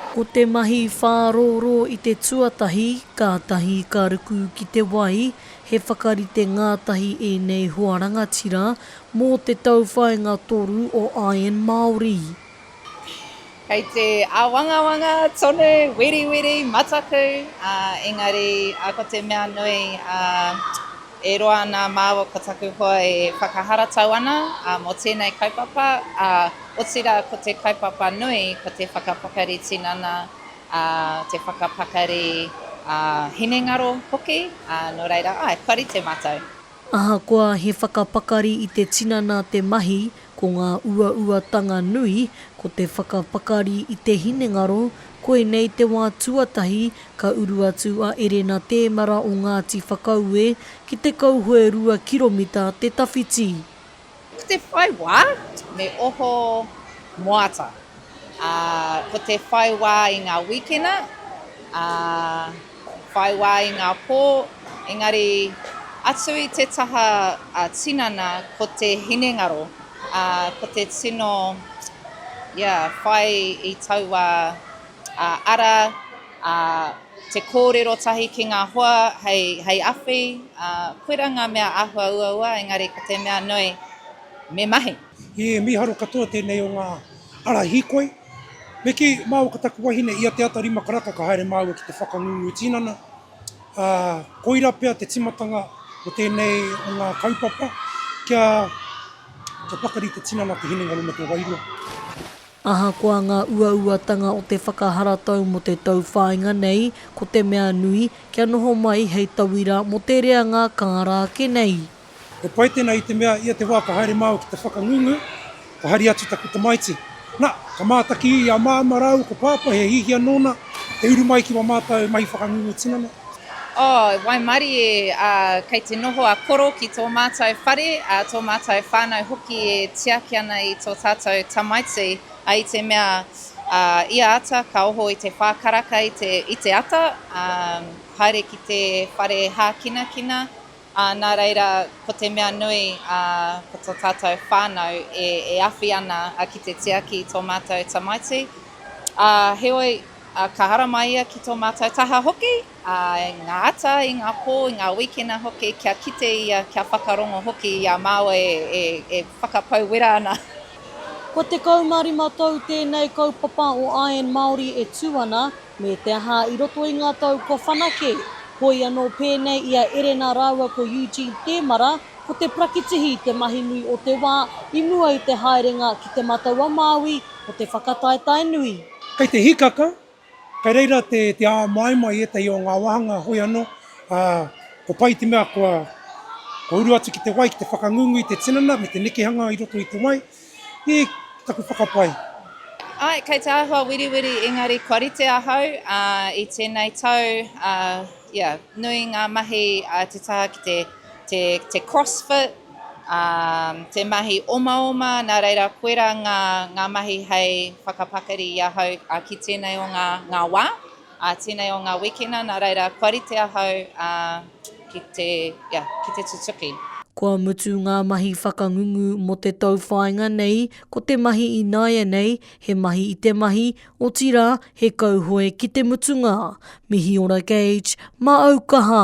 Ko te mahi whārōrō i te tuatahi, kātahi ka ruku ki te wai, he whakarite ngātahi ēnei hoa rangatira mō te tauwhāinga toru o Iron Māori. Kei te āwangawanga tonu, wiriwiri, mataku, ā, engari ko te mea nui, ā. E roa ana māua ko taku hoa e whakaharatau ana mō tēnei kaupapa, ā, otirā ko te kaupapa nui ko te whakapakari tinana, ā, te whakapakari hinengaro hoki, ā, nō reira, āe, kua rite mātou. Ahakoa he whakapakari i te tinana te mahi, Ko ngā uauatanga nui, ko te whakapakari i te hinengaro, koinei te wā tuatahi ka uru atu a Erena Tēmara o Ngāti Whakaue ki te kauhoe rua kiromita te tawhiti. Ko te whai wā, me oho moata, ā, ko te whai wā i ngā wīkena, ā. Whai wā i ngā pō, engari atu i te taha tinana ko te hinengaro, ā, ko te tino, ia, whai i taua ara, ā, te kōrero tahi ki ngā hoa hei, hei awhi, ā, koirā ngā mea āhua uaua, engari ko te mea nui, me mahi. He mīharo katoa tēnei o ngā ara hīkoi. Me kī, māua ko taku wahine, i a Te Ata Rima Karaka ka haere māua ki te whakangungu tinana, ā, koirā pea te timatanga o tēnei o ngā kaupapa, kia, kia pakari te tinana, te hinengaro me te wairua. Ahakoa ngā uauatanga o te whakaharatau mō te tauwhāinga nei, ko te mea nui, kia noho mai hei tauira mō te reanga kāra ake nei. He pai tēnā i te mea ia te wā ka haere māua ki te whakangungu, ka hari atu taku tamaiti. Na, ka mātaki i a Māma rāua ko Pāpā he hihia nōna te uru mai ki wā mātau mahi whakangungu tinana. Oh, waimarie, ah, kei te noho a Koro ki tō mātau whare, ah, tō mātau whānau hoki e tiaki ana i tō tātau tamaiti, ah, i te mea, ah, ia ata ka oho i te whā karaka i te, i te ata, ah, haere ki te whare hākinakina, Ā, nā reira, ko te mea nui, ā, ko tō tātou whānau e, e awhi ana, ā, ki te tiaki i tō mātou tamaiti. Ā, heoi, ā, ka haramai ia ki tō mātou taha hoki, ā, i ngā ata, i ngā pō, i ngā wīkena hoki, kia kite ia, kia whakarongo hoki i a māua e, e, e whakapau wera ana. Kua 15 tau tēnei kaupapa o Iron Māori e tū ana, Me te aha, i roto i ngā tau kua whanake, hoi anō pēnei i a Erena rāua ko Eugene Tēmara, ko te prakitihi te mahi nui o te wā i mua i te haerenga ki Te Matau-a-Māui o te whakataetae nui. Kei te hikaka, kei reira te āmaima i ētahi o ngā wāhanga, hoi anō, ā, ko pai te mea kua uru atu ki te wai, ki te whakangungu i te tinana me te nekehanga i roto i te wai, He taku whakapae. Ae, kei te āhua wiriwiri engari kua rite ahau i tēnei tau, ia, nui ngā mahi a te taha ki te, te, te crossfit, te mahi omaoma, nā reira koirā ngā, ngā mahi hei whakapakari i ahau ki tēnei o ngā, ngā wā. Ā, tēnei o ngā wikina, nā reira, kua rite ahau, ā, ki te, ia, ki te tutuki. Kua mutu ngā mahi whakangungu mō te tauwhāinga nei, ko te mahi ināianei, he mahi i te mahi, otirā, he kauhoe ki te mutunga. Mihi ora Gage, mā au kaha!